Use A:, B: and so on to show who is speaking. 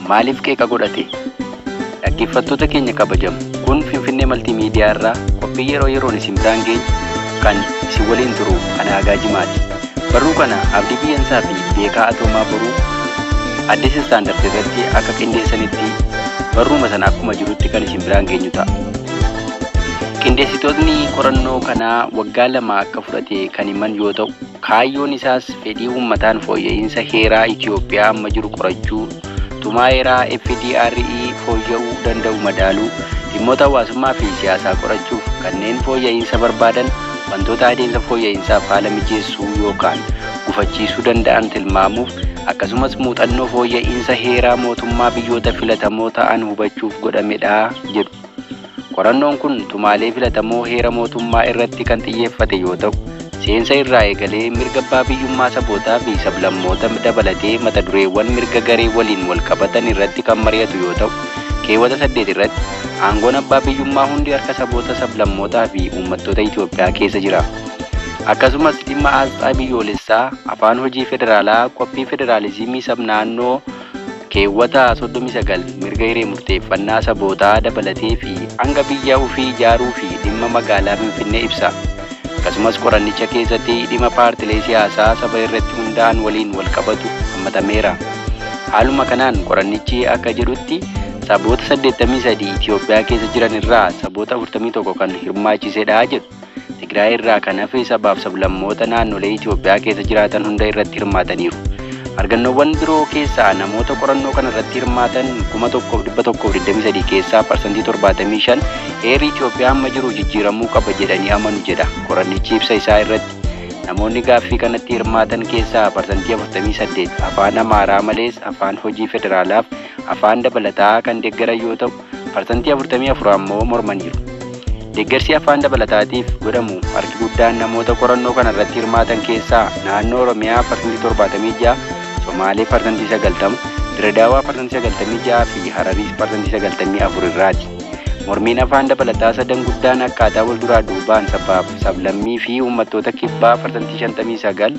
A: Maaliif qeeqa godhate? Dhaggeeffattoota keenya kabajamo, kun Finfinnee Maltii Miidiyaa irraa qophii yeroo yeroon isin biraan geenyu kan isin waliin turu ana Agaa Jimaati. Barruu kana Abdii Biyyansaa fi Beekaa Atoomaa Boruu Addis Standard irratti akka qindeessanitti barruuma sana akkuma jirutti kan isin biraan geenyu ta'a. Qindeessitootni qorannoo kanaa waggaa lama akka fudhate kan himan yoo ta'u, Kaayyoon isaas fedhii uummataan fooyya'iinsa heeraa Itiyoophiyaa amma jiru qorachuu, tumaa heeraa FDRE fooyya'uu danda'u madaaluu, dhimmoota hawaasummaa fi siyaasaa qorachuuf kanneen fooyya'iinsa barbaadan wantoota adeemsa fooyya'iinsaaf haala mijeessuu yookaan gufachiisuu danda'an tilmaamuuf akkasumas muuxannoo fooyya'iinsa heeraa mootummaa biyyoota filatamoo ta'an hubachuuf godhamedha jedhu. Qorannoon kun tumaalee filatamoo heera mootummaa irratti kan xiyyeeffate yoo ta'u, seensa irraa eegalee mirga abbaa biyyummaa sabootaa fi sablammoota dabalatee mata dureewwan mirga garee waliin wal qabatan irratti kan mari'atu yoo ta'u, keewwata 8 irratti aangoon abbaa biyyummaa hundi harka saboota, sablammootaa fi uummattoota Itoophiyaa keessa jira. Akkasumas dhimma aasxaa biyyoolessaa, afaan hojii federaalaa, qophii federaalizimii sab-naannoo, keewwata 39 mirga hiree murteeffannaa sabootaa dabalatee fi hanga biyya ufii ijaaruu fi dhimma magaalaa Finfinnee ibsa. Akkasumas qorannicha keessatti dhima paartilee siyaasaa saba irratti hundaa'an waliin wal qabatu hammatameera. Haaluma kanaan qorannichi akka jedhutti saboota 83 Itiyoophiyaa keessa jiran irraa saboota 41 kan hirmaachisedha jedhu. Tigraay irraa kan hafe sabaaf sablammoota naannolee Itoophiyaa keessa jiraatan hunda irratti hirmaataniiru. Argannoowwan biroo keessaa namoota qorannoo kana irratti hirmaatan 1,123 keessaa parsantii 75 heerri Itoophiyaa amma jiru jijjiiramuu qaba jedhanii amanu jedha qorannichi ibsa isaa irratti. Namoonni gaaffii kanatti hirmaatan keessaa parsantii 48 afaan Amaaraa malees afaan hojii federaalaaf afaan dabalataa kan deggaran yoo ta'u, parsantii 44 ammoo mormaniiru. Deggarsi afaan dabalataatiif godhamu harki guddaan namoota qorannoo kana irratti hirmaatan keessaa Naannoo Oromiyaa parsantii 76, Somaalee parsantii 90, Dirredaawaa parsantii 96 fi Harariis parsantii 94 irraati. Mormiin afaan dabalataa sadan guddaan akkaataa wal duraa duubaan sabaaf sablammii fi uummattoota kibbaa parsantii 59,